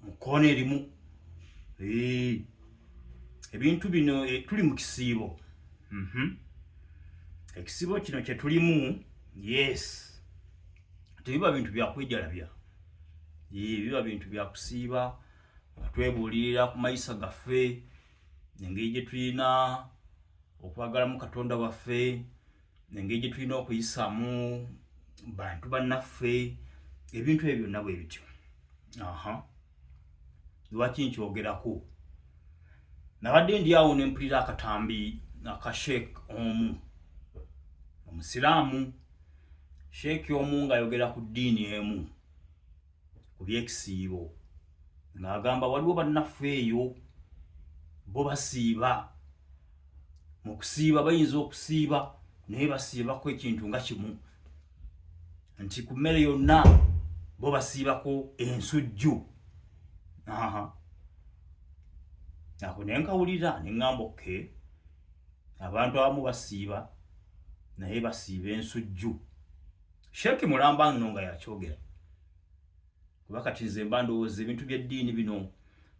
mu koona erimu ebintu bino eh, tuli mu kisiibo mhm. ekisiibo kino kyetulimu yes tebiba bintu byakwejalabya biba bintu byakusiiba nga twebuulirira ku mayisa gaffe engeri gyetulina okwagalamu katonda waffe engeri gye tulina okuyisaamu bantu bannaffe ebintu ebyo byonna bwe bityo aha lwaki nkyogerako nabadde ndi awo ne mpulira akatambi aka sheek omu omusiraamu sheeki omu ng'ayogera ku ddiini emu ku byekisiibo ng'agamba waliwo bannaffe eyo bo basiiba mu kusiiba bayinza okusiiba naye basiibako ekintu nga kimu nti ku mmere yonna bo basiibako ensujju ako naye nkawulira ne ŋŋamba oke abantu abamu basiiba naye basiiba ensujju Sheikh Mulamba nno nga yakyogera kuba kati nze mba ndowooza ebintu by'eddiini bino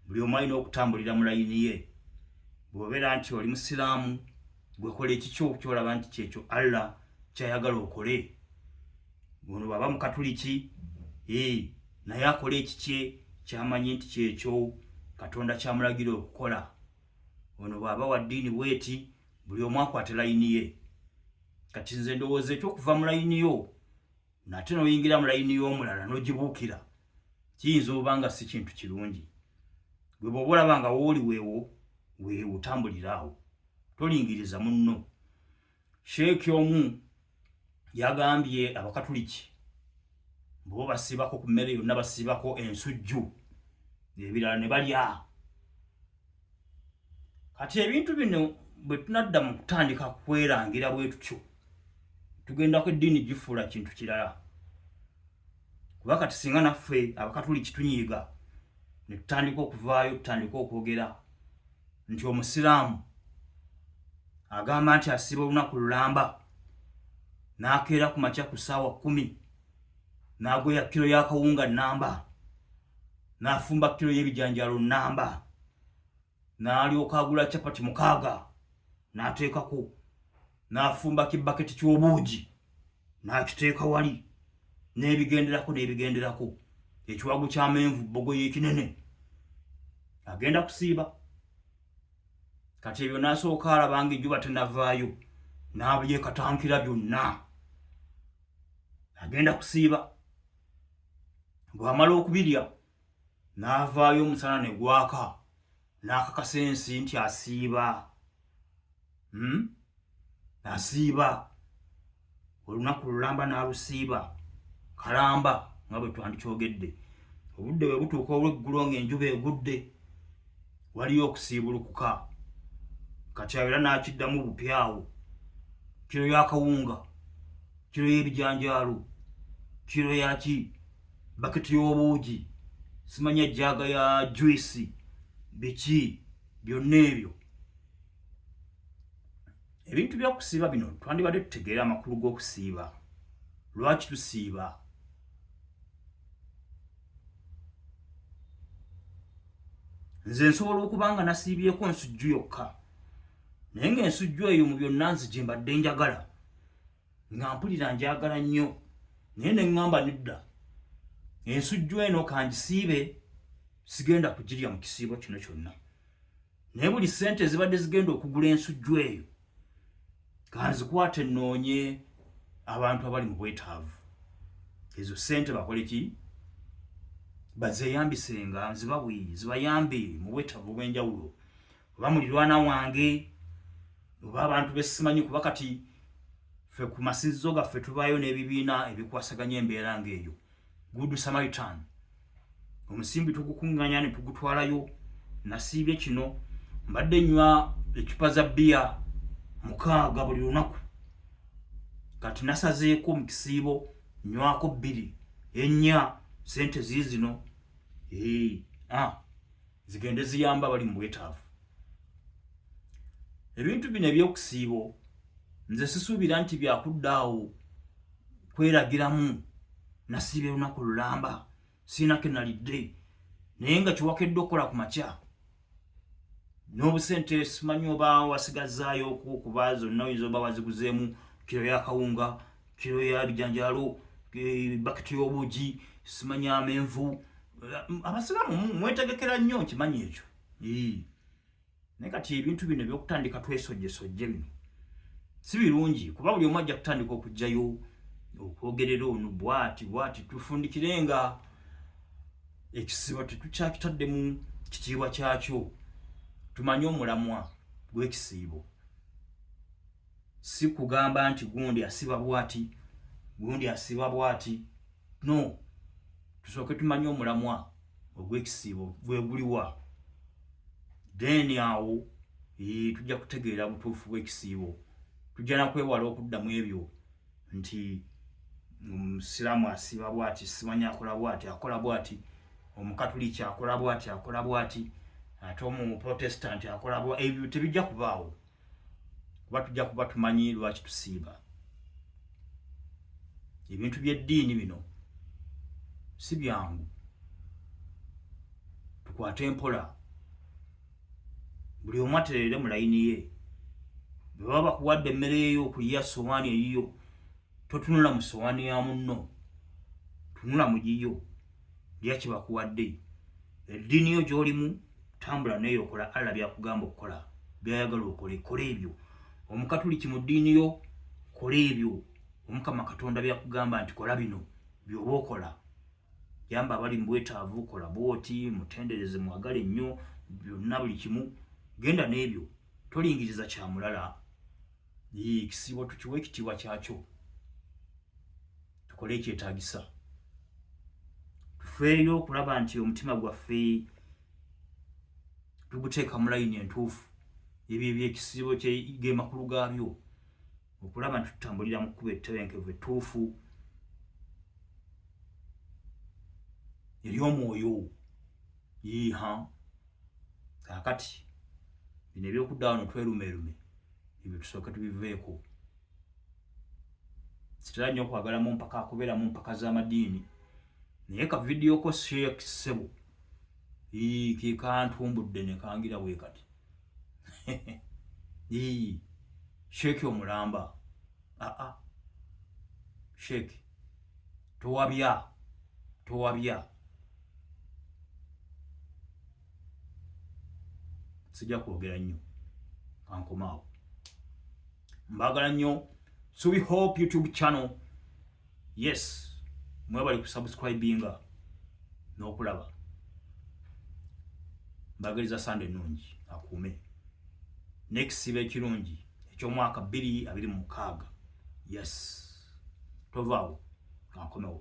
buli omu alina okutambulira mu layini ye bw'obeera nti oli musiraamu gwekola ekikyo kyolaba nti kyekyo Allah kyayagala okole ono bwaba mukatuliki ee eh, naye akola ekikye kyamanyi nti kyekyo katonda kyamulagira okukola ono bwaba wa ddiini bweti buli omu akwate layini ye kati nze ndowooza ekyokuva mu layini yo nate noyingira mu layini y'omulala nogibuukira kiyinza oba nga si kintu kirungi gwe bwoba olaba nga wooli weewo weewotambuliraawo tolingiriza munno sheeki omu yagambye abakatuliki bbo basibako ku mmere yonna basibako ensujju ebirala ne balya kati ebintu bino bwe tunadda mu kutandika kwerangira bwe tutyo tugenda ku eddiini gifuula kintu kirala kuba kati singa naffe abakatuli kitunyiiga ne tutandika okuvaayo tutandika okwogera nti omusiraamu agamba nti asiba olunaku lulamba n'akeera ku makya ku ssaawa kkumi n'agweya kkiro y'akawunga nnamba n'afumba kkiro y'ebijanjalo nnamba n'alyoka agula capati mukaaga n'ateekako n'afumba kibaketi ky'obuugi n'akiteeka wali n'ebigenderako n'ebigenderako ekiwagu ky'amenvu bbogoya ekinene agenda kusiiba kati ebyo n'asooka alaba nga ejjuba tenavaayo n'abyekatankira byonna agenda kusiiba bw'amala okubirya n'avaayo omusana ne gwaka n'akakasa ensi nti asiiba hmm? asiiba olunaku lulamba n'alusiiba kalamba nga bwe twandikyogedde obudde bwe butuuka olw'eggulo ng'enjuba egudde waliyo okusiibulukuka kati abeera n'akiddamu bupyawo kiro yakawunga kiro y'ebijanjaalo kiro yaki baketi y'obuugi simanya jjaaga ya juisi biki byonna ebyo ebintu byokusiiba bino twandibadde tutegeera amakulu g'okusiiba lwaki tusiiba nze nsobola okuba nga nasiibyeko nsujju yokka naye nga ensujju eyo mu byonna nzije mbadde njagala nga mpulira njagala nnyo naye ne ŋŋamba nedda ensujju eno kangisiibe sigenda kugirya mu kisiibo kino kyonna naye buli ssente ezibadde zigenda okugula ensujju eyo kanzikwate nnoonye abantu abali mu bwetaavu ezo ssente bakole ki bazeeyambisenga nzibawi zibayambe mu bwetaavu obw'enjawulo oba mulirwana wange oba abantu besimanyi kuba kati fe ku masinzizo gaffe tubayo n'ebibiina ebikwasaganya embeera ng'eyo good samaritan omusimbi tugukunganya ne tugutwalayo nasiibye kino mbadde nywa ecupa za bbiya mukaaga buli lunaku kati nasazeeko mu kisiibo nywako bbiri ennya sente ziizino ee ah. zigende ziyamba abali mu bwetaavu ebintu bino ebyokusiibo nze sisuubira nti byakuddaawo kweragiramu nasiiba olunaku lulamba siina kenalidde naye nga kyewakedde okukola ku makya n'obusente simanyi oba wasigazaayo okuba zonna oyinza oba waziguzeemu kiro yakawunga kiro ya bijanjalo eh, bakiti y'obugi simanya amenvu abasiraamu mwetegekera nnyo nkimanyi ekyo naye kati ebintu bino ebyokutandika twesojjesojje bino si birungi kuba buli omu ajja kutandika okugjayo okwogerera ono bwati bwati tufundikire nga ekisiba tetukyakitadde mu kitiibwa kyakyo tumanye omulamwa gw'ekisiibo si kugamba nti gundi asiba bwati gundi asiba bwati no tusooke tumanye omulamwa ogw'ekisiibo gweguliwa then awo tujja kutegeera butuufu bw'ekisiibo tujja nakwewala okuddamu ebyo nti omusiraamu asiba bwati simanyi akola bwati akola bwati omukatuliki akola bwati akola bwati ate omuprotestanti akola bwa ebyo tebijja kubaawo kuba tujja kuba tumanyi lwaki tusiiba ebintu by'eddiini bino si byangu tukwate empola buli omu aterere mu layini ye bwe baba bakuwadde emmere yeyo okulya sowaani eyiyo totunula mu sowaani ya munno tunula mu giyo lya kyebakuwadde eddiini yo gy'olimu tambula neyo okola allah byakugamba okukola byayagala okole kola ebyo omukatuliki mu ddiini yo kola ebyo omukama katonda byakugamba nti kola bino byoba okola yamba abali mu bwetaavu kola bwoti mutendereze mwagale nnyo byonna buli kimu genda n'ebyo tolingiriza kya mulala ekisiibo tukiwa ekitiibwa kyakyo tukole ekyetagisa tufeeyo okulaba nti omutima gwaffe tuguteeka mu layini entuufu ebyo ebyekisibo gemakulu gaabyo okulaba nti tutambulira mu kkuba ettebenkevu ettuufu eryomwoyo yiiha kakati bino ebyokuddawano twerumeerume ebyo tusooke tubiveeko sitera nnyo okwagala mu mpaka akubeera mu mpaka z'amadiini naye ka vidiyo ko sheek ssebo ke kantumbudde ne kangira bwe kati sheeki omulamba aa ah, ah. sheeki towabya towabya sijja kwogera nnyo kankomaawo mbagala nnyo subi hope youtube channel yes mwebali kusubscribinga n'okulaba mbagaliza sande ennungi akuume nekisiba ekirungi ekyomwaka bbiri abiri mu mukaaga yes tovaawo kankomewo